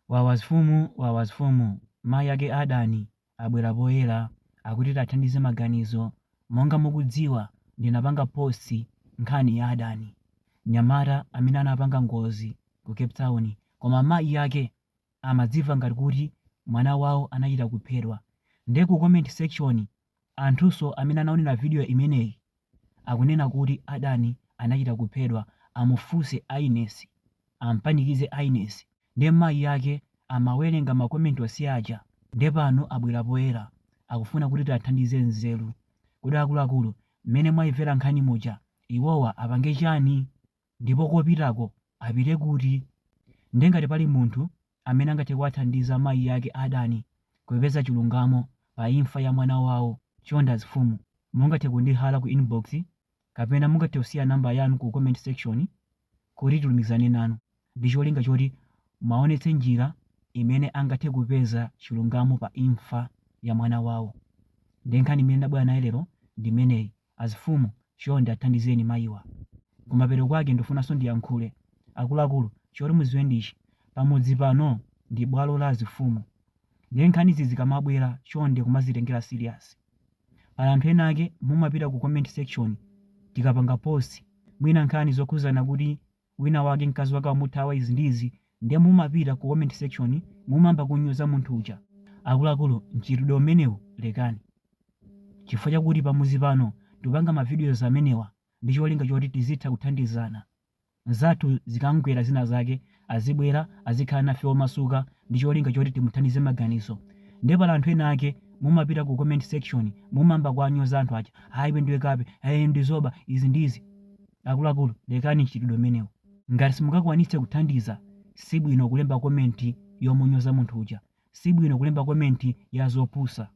Wawa azifumu wawa azifumu mayi ake a Dan abwera poyera akuti tiathandize maganizo monga mukudziwa ndinapanga post nkhani ya Dan nyamata amene anapanga ngozi ku cape town koma mayi ake amadzimva ngati kuti mwana wawo anachita kuphedwa nde ku comment section Anthunso amene anaonera video imeneyi akunena kuti Adan anachita kuphedwa amufunse Agnes ampanikize Agnes nde mayi ake amawelenga ma comment onse aja nde pano abwera poyera akufuna kuti tiathandize nzeru kodi akuluakulu mmene mwaimvera nkhani muja iwowa apange chani? Ndipo kopitako apite kuti? Ndiye ngati pali munthu amene angathe kuwathandiza mayi ake a Dani kupeza chilungamo pa imfa ya mwana wawo, chonde azifumu mungathe kundihala ku inbox kapena mungathe kusiya number yanu ku comment section kuti tilumikizane nanu ndicholinga choti muwaonetse njira imene angathe kupeza chilungamo pa imfa ya mwana wawo. Ndiye nkhani imene ndabwera nayo lero ndi imeneyi. Azifumu chonde athandizeni mayiwa. Kumapeto kwake ndufunanso ndiyankhule. Akuluakulu choti muziwe ndi ichi pamudzi pano ndi bwalo la azifumu nde nkhanizi zikamabwela chonde kumazitengela serious. Pali anthu ena ake mumapita ku comment section tikapanga post mwina nkhani zokhuzana kuti wina wake mkazi wake wamuthawa izi ndi izi nde mumapita ku comment section mumayamba kunyoza munthu uja. Akuluakulu mchitidwe umenewu lekani chifukwa chakuti pamudzi pano tikupanga ma videos amenewa ndi cholinga choti tizitha kuthandizana. Mzathu zikamgwera zina zake azibwera azikhala nafe omasuka ndi cholinga choti timuthandize maganizo nde pali anthu ena ake mumapita ku comment section mumayamba kuwanyoza anthu aja aah iwe ndiwe kape eeh iwe ndiwe zoba izi ndi izi. Akuluakulu lekani mchitidwe umenewu. Ngati simungakwanitse kuthandiza sibwino kulemba comment yomunyoza munthu uja. Sibwino kulemba comment ya zopusa.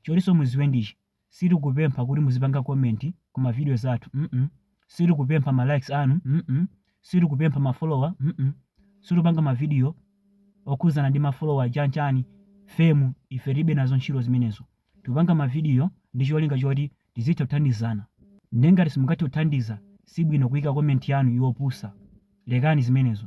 Chotinso muziwe ndichi, sitikupempha kuti muzipanga comment ku ma videos athu mm sitikupempha ma likes anu mm sitikupempha ma follower mm sitikupanga ma video okhudzana ndi ma follower chanchani fame ife tilibe nazo ntchito zimenezo. Tikupanga ma video ndi cholinga choti tizitha kuthandizana nde ngati simungathe kuthandiza sibwino kuika comment yanu yopusa lekani zimenezo.